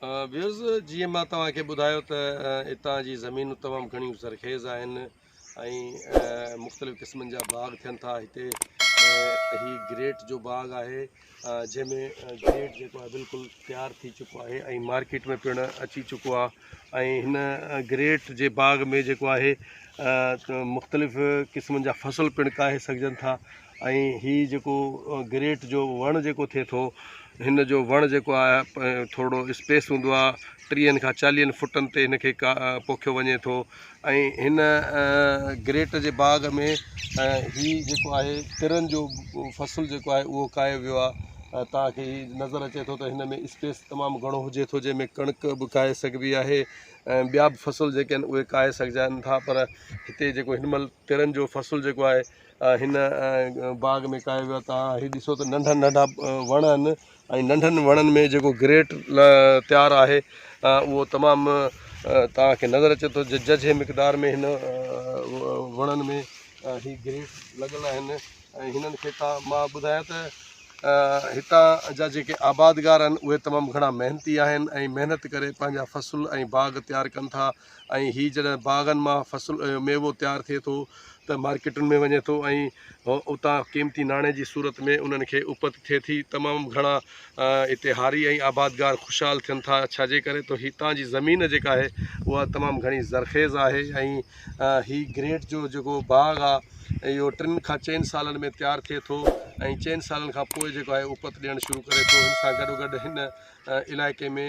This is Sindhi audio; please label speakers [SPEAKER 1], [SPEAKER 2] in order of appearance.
[SPEAKER 1] ويوز جي مان توهان کي ٻڌايو ته اتان جي زمينون تمام گهڻيون زرخيز آهن ۽ مختلف قسمن جا باغ ٿين ٿا هتي هي گريٽ جو باغ آهي جنهن ۾ گريٽ جيڪو آهي بلڪل تيار ٿي چڪو آهي ۽ مارڪيٽ ۾ پڻ اچي چڪو آهي ۽ هن گريٽ جي باغ ۾ جيڪو آهي مختلف قسمن جا فصل پڻ ڪاهي سگهجن ٿا ۽ هي جيڪو گريٽ جو وڻ جيڪو ٿئي ٿو هن جو وڻ جيڪو آهي ٿورڙو اسپيس هوندو آهي ٽيهن کان چاليهن فٽن تي هن کي پوکيو وڃي ٿو ۽ هن گريٽ جي باغ ۾ هي جيڪو آهي ترن جو فصل جيڪو آهي اهو ڪاهيو ويو آهي توهان کي هي نظر اچي ٿو ته هن ۾ اسپيس تمام گهڻو هجي ٿو جنهن ۾ ڪڻڪ به ڪاهي سگهبي آهي ۽ ٻيا به فصل جيڪي آهن اهي ڪاهي سگهجن ٿا پر هتي جيڪو هن مهل ترن جو فصل جيڪو آهي هن باغ ۾ ڪاهيو ويو آهي توهان هي ڏسو ته ننڍا ننڍا وڻ آهن ۽ ننڍن وڻن ۾ جيڪو گريٽ تيار آهي اهو تمام توهان کي نظر اچي ٿو ججهي مقدار ۾ هن وڻن ۾ هي گريٽ لڳل آهن ۽ هنن کي توهان مان ٻڌايان ته هتان جا جيڪي آبادگار آهن اهي تمام گهڻا محنتي آهن ۽ محنت ڪري پنهنجا فصل ۽ باغ تيار ڪن ٿا ۽ هي جڏهن باغن مان فصل ميوو تيار ٿئي ٿو ته مارڪيٽن ۾ وڃي ٿو ۽ اتان قيمتي ناڻي جي صورت ۾ انهن کي اپت ٿئي ٿي تمام گهڻا هتي هاري ۽ آبادگار خوشحال ٿين ٿا ڇا جي ڪري ته هتان جي زمين جيڪا آهي اها تمام گهڻي زرخيز آهي ۽ هي گريٽ جو جيڪو باغ آهي اهو ٽن کان چئن سالن ۾ تيار ٿئي ٿو ۽ چئن سالن کان پوء جيڪو آهي اپت ڏيڻ شروع ڪري ٿو ان سان گڏو گڏ هن علائقي ۾